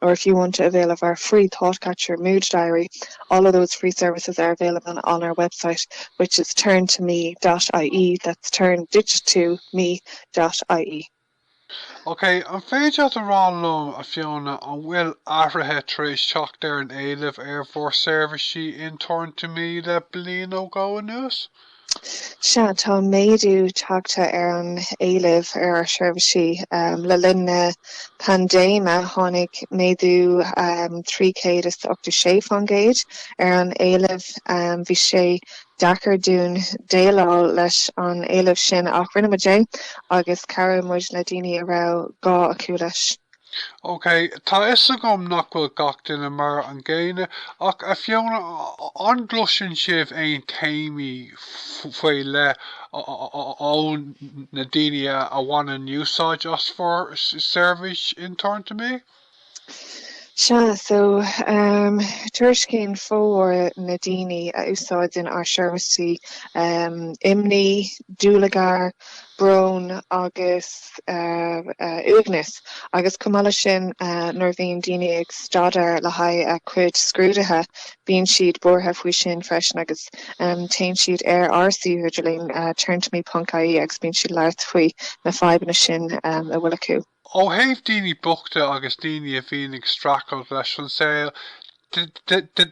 or if you want to avail of our free Thoughtcatcher mood diary, all of those free services are available on our website, which is turn2me.ie, that's turn, digit two, me.ie. OK, an féidir leat a rá liom, a Fiona, an bhfuil athruithe tar éis teacht ar an éileamh ar bhur seirbhísí in Turn2Me le bliain nó dhó anuas? Sea, tá méadú tagtha ar an éileamh ar ár seirbhísí. Le linn na paindéime, tháinig méadú 386 fán gcéad ar an éileamh. Bhí sé deacair dúinn déileáil leis an éileamh sin ach rinne muid é agus chabhraigh muid le daoine a raibh gá acu leis. OK, tá 'fhios agam nach bhfuil gach duine mar an gcéanna, ach a Fiona, an gcloiseann sibh aon téamaí faoi leith ó na daoine a bhaineann úsáid as bhur seirbhís in Turn2Me? Sea, so, em, tuairiscíonn formhór na daoine a úsáideann ár seirbhísí, em, imní, dúlagar, brón agus uaigneas agus chomh maith leis sin nuair a bhíonn daoine ag staidéar le haghaidh a cuid scrúduithe bíonn siad buartha faoi sin freisin agus téann siad ar ár suíomh idirlín Turn2Me punc ie agus bíonn siad labhairt faoi na fadhbanna sin a bhfuil acu. Ó thaobh daoine bochta agus daoine a bhíonn ag streachailt leis an saol de,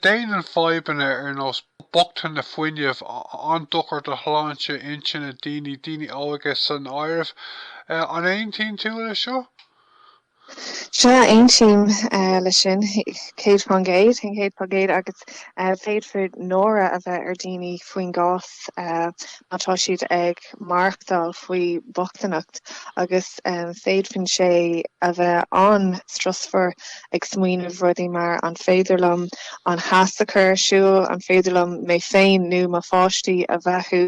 déanann fadhbanna ar nós bochtaine fuinnimh an-dochar do shláinte intinne daoine, daoine óga san áireamh. An aontaíonn tú leis seo? Sea, aontaím leis sin, céad fán gcéad, an céad fá gcéad, agus féadfar náire a bheith ar dhaoine faoin gcás má tá siad ag. ag maireachtáil faoi bhochtaineacht agus féadfadh sé a bheith an-strusmhar ag smaoineamh rudaí mar, an féidir liom an theas a chur ar siúl, an féidir liom mé féin nó mo pháistí a bheathú,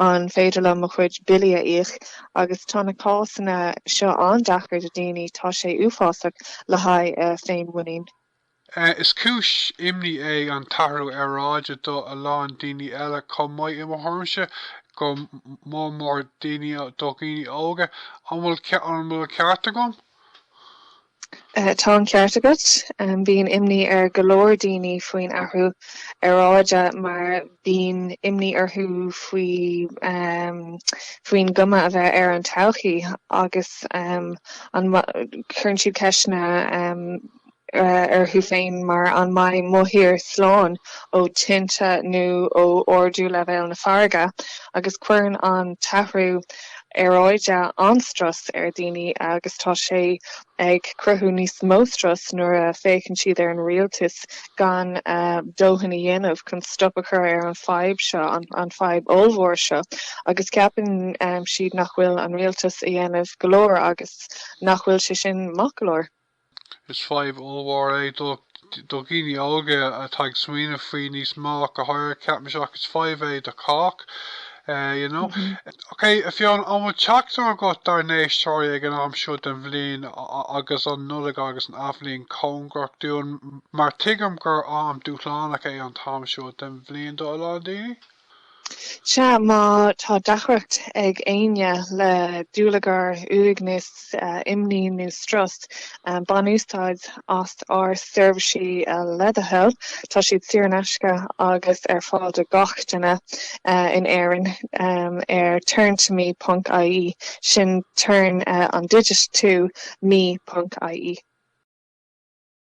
an féidir liom mo chuid billí a íoc? Agus tá na cásanna seo an-deacair do daoine, tá sé uafásach le haghaidh a féinmhuinín. Is cúis imní é an t-athrú aeráide do a lán daoine eile chomh maith, i mo thuairimse, go mór mór daoine, do dhaoine óga. An bhfuil an bhfuil an ceart agam? Tá an ceart agat. Bíonn imní ar go leor daoine faoin athrú aeráide mar bíonn imní orthu faoi faoin gcuma a bheidh ar an todhchaí agus, em, cuireann siad ceisteanna orthu féin mar an mbeidh mo thír slán ó thinte nó ó ardú leibhéal na farraige, agus cuireann an t-athrú aeráide an-strus ar dhaoine agus tá sé ag cruthú níos mó strus nuair a fhéachann siad ar an rialtas gan dóthain a dhéanamh chun stop a chur ar an fhadhb seo, an fhadhb ollmhór seo, agus ceapann siad nach bhfuil an rialtas a dhéanamh go leor agus nach bhfuil sé sin maith go leor. Is fadhb ollmhór é do dhaoine óga atá ag smaoineamh faoi, níos mó, go háirithe, ceapaimse, ach is fadhb é do chách, you know. Ok, a Fiona, an bhfuil teachtaireacht agat dár n-éisteoirí ag an am seo den bhliain agus an Nollaig agus an Athbhliain cóngarach dúinn, mar tuigim gur am dúshlánach é an t-am seo den bhliain do a lán daoine? Sea, má tá deacracht ag éinne le dúlagar, uaigneas, imní nó strus, bain úsáid as ár seirbhísí le do thoil. Tá siad saor in aisce agus ar fáil do gach duine in Éirinn ar turn2me ponc ie, sin turn an digit two me ponc ie.